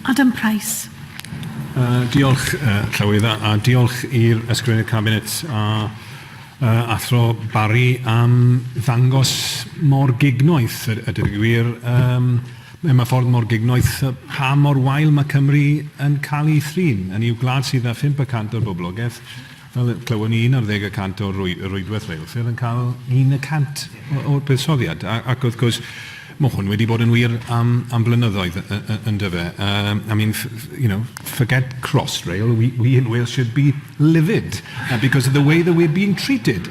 Adam Price. Yy diolch yy Llywydd a a diolch i'r Ysgrifennydd Cabinet a yy Athro Barry am ddangos mor gignoeth a a deud y gwir yym mewn ma' ffordd mor gignoeth yy pa mor wael ma' Cymru yn cael ei thrin. Hynny yw gwlad sydd â phump y cant o'r boblogaeth Fel y clywon ni, un ar ddeg y cant o rwydwaith reilffyrdd yn cael un y cant o'r buddsoddiad. Ac wrth gwrs, mae hwn wedi bod yn wir am flynyddoedd, yn dyw e? I mean, you know, forget Crossrail, we in Wales should be livid because of the way that we're being treated.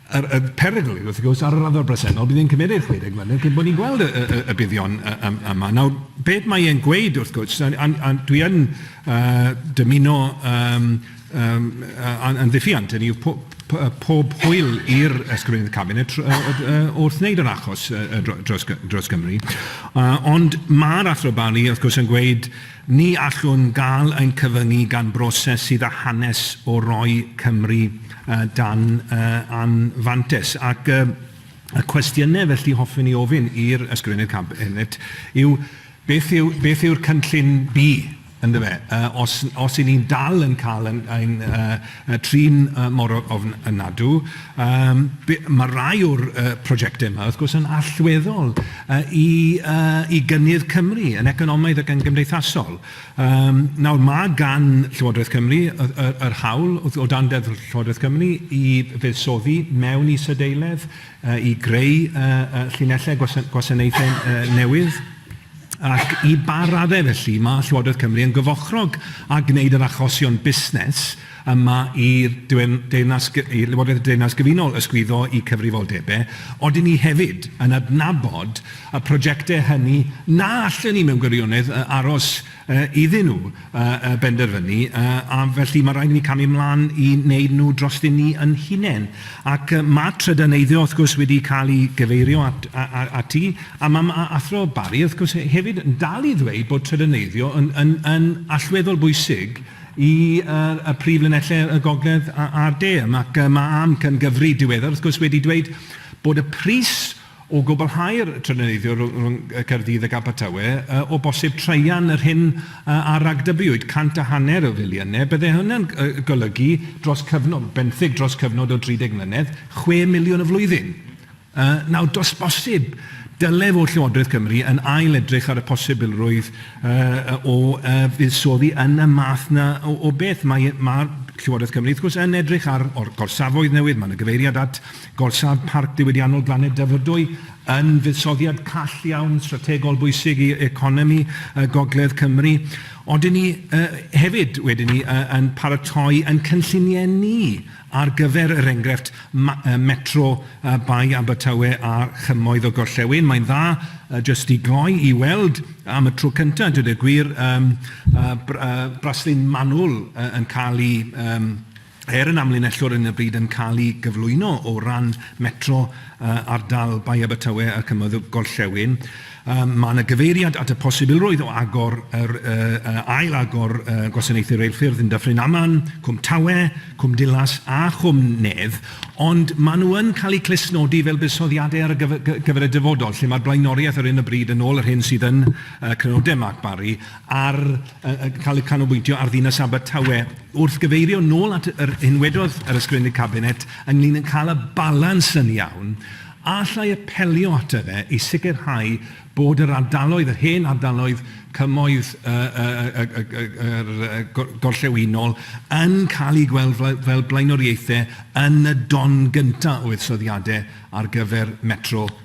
Yr y perygl yw, wrth gwrs, ar y raddfa bresennol, bydd e'n cymeryd 60 mlynedd cyn bod ni'n gweld y y y y buddion y y yma. Nawr, beth mae e'n gweud, wrth gwrs, a a a dwi yn yy dymuno yym yym yy a a'n ddiffuant, hynny yw po- p- yy pob hwyl i'r Ysgrifennydd Cabinet tr- yy yy yy wrth wneud yr achos yy yy dro- dros Gy- dros Gymru yy ond ma'r Athro Bailey, wrth gwrs, yn gweud, Ni allwn gael ein cyfyngu gan broses sydd â hanes o roi Cymru dan anfantais. Ac y cwestiynau felly hoffwn i ofyn i'r Ysgrifennydd Cabinet yw, beth yw, beth yw'r cynllun B, yndyfe, os, os 'yn ni'n dal yn cael ein, ein, A trin mor ofn ynadw. Yym be- ma' rai o'r yy prosiectau yma wrth gwrs yn allweddol yy i yy i gynnydd Cymru yn economaidd ac yn gymdeithasol. Yym nawr ma' gan Llywodraeth Cymru y y yr hawl wrth o dan Deddf Llywodraeth Cymru i fuddsoddi mewn isadeiledd yy i greu yy yy llinellau gwasa- gwasanaethau yy newydd. Ac i ba raddau, felly, mae Llywodraeth Cymru yn gyfochrog â gwneud yr achosion busnes yma i'r dwyn- deyrnas gy- i Lywodraeth y Deyrnas Gyfunol ysgwyddo i cyfrifoldebau, odyn ni hefyd yn adnabod y projectau hynny na allen ni mewn gwirionedd yy aros yy iddyn nhw? y benderfynu, a felly mae rhaid i ni camu mlaen i wneud nhw drosty ni yn hunain. Ac mae trydaneiddio wrth gwrs wedi cael ei gyfeirio at, ati, a mae ma Athro Barry wrth gwrs hefyd yn dal i ddweud bod trydaneiddio yn, yn, yn allweddol bwysig i uh, y prif linellau y gogledd a'r de. Ac mae am cyngyfri diweddar wrth gwrs wedi dweud bod y pris O gwblhau'r triniaethau rhwng Caerdydd ac Abertawe, o bosib traean yr hyn a ragdybiwyd cant a hanner o filiynau, byddai hynny'n golygu dros cyfnod, benthyg dros cyfnod o 30 mlynedd, chwe miliwn y flwyddyn. Nawr, does bosib, dylai fod Llywodraeth Cymru yn ail-edrych ar y posibilrwydd o fuddsoddi yn y math yna o beth. Mae Llywodraeth Cymru, wrth gwrs, yn edrych ar gorsafoedd newydd, mae yna gyfeiriad at Gorsaf Parc Diwydiannol Glannau Dyfrdwy yn fuddsoddiad call iawn, strategol bwysig i economi Gogledd Cymru. Ond dyn ni hefyd, wedyn ni, yn paratoi yn cynlluniau ni ar gyfer, er enghraifft, metro Bae Abertawe a Chymoedd y Gorllewin. Mae'n dda jyst i gloi i weld am y tro cyntaf, dweud y gwir, braslun manwl yn cael ei... Er yn amlinellwr yn y bryd yn cael ei gyflwyno o ran Metro ardal Bae Abertawe ac Ymydd y Gorllewin, mae yna gyfeiriad at y posibilrwydd o agor yr ail agor gwasanaethau reilffyrdd yn Dyffryn Aman, Cwm Tawe, Cwm Dulas a Chwm Nedd, ond mae nhw yn cael eu clustnodi fel buddsoddiadau ar gyfer y dyfodol, lle mae'r blaenoriaeth ar hyn o bryd, yn ôl yr hyn sydd yn Crynodeb Mark Barry, ar yy cael eu canolbwyntio ar ddinas Abertawe. Wrth gyfeirio nôl at yr hyn wedodd yr Ysgrifennydd Cabinet ynglyn â cael y balans yn iawn, a alla i apelio ato fe i sicrhau bod yr ardaloedd, yr hen ardaloedd cymoedd yr gorllewinol yn cael eu gweld fel blaenoriaethau yn y don gyntaf o fuddsoddiadau ar gyfer Metro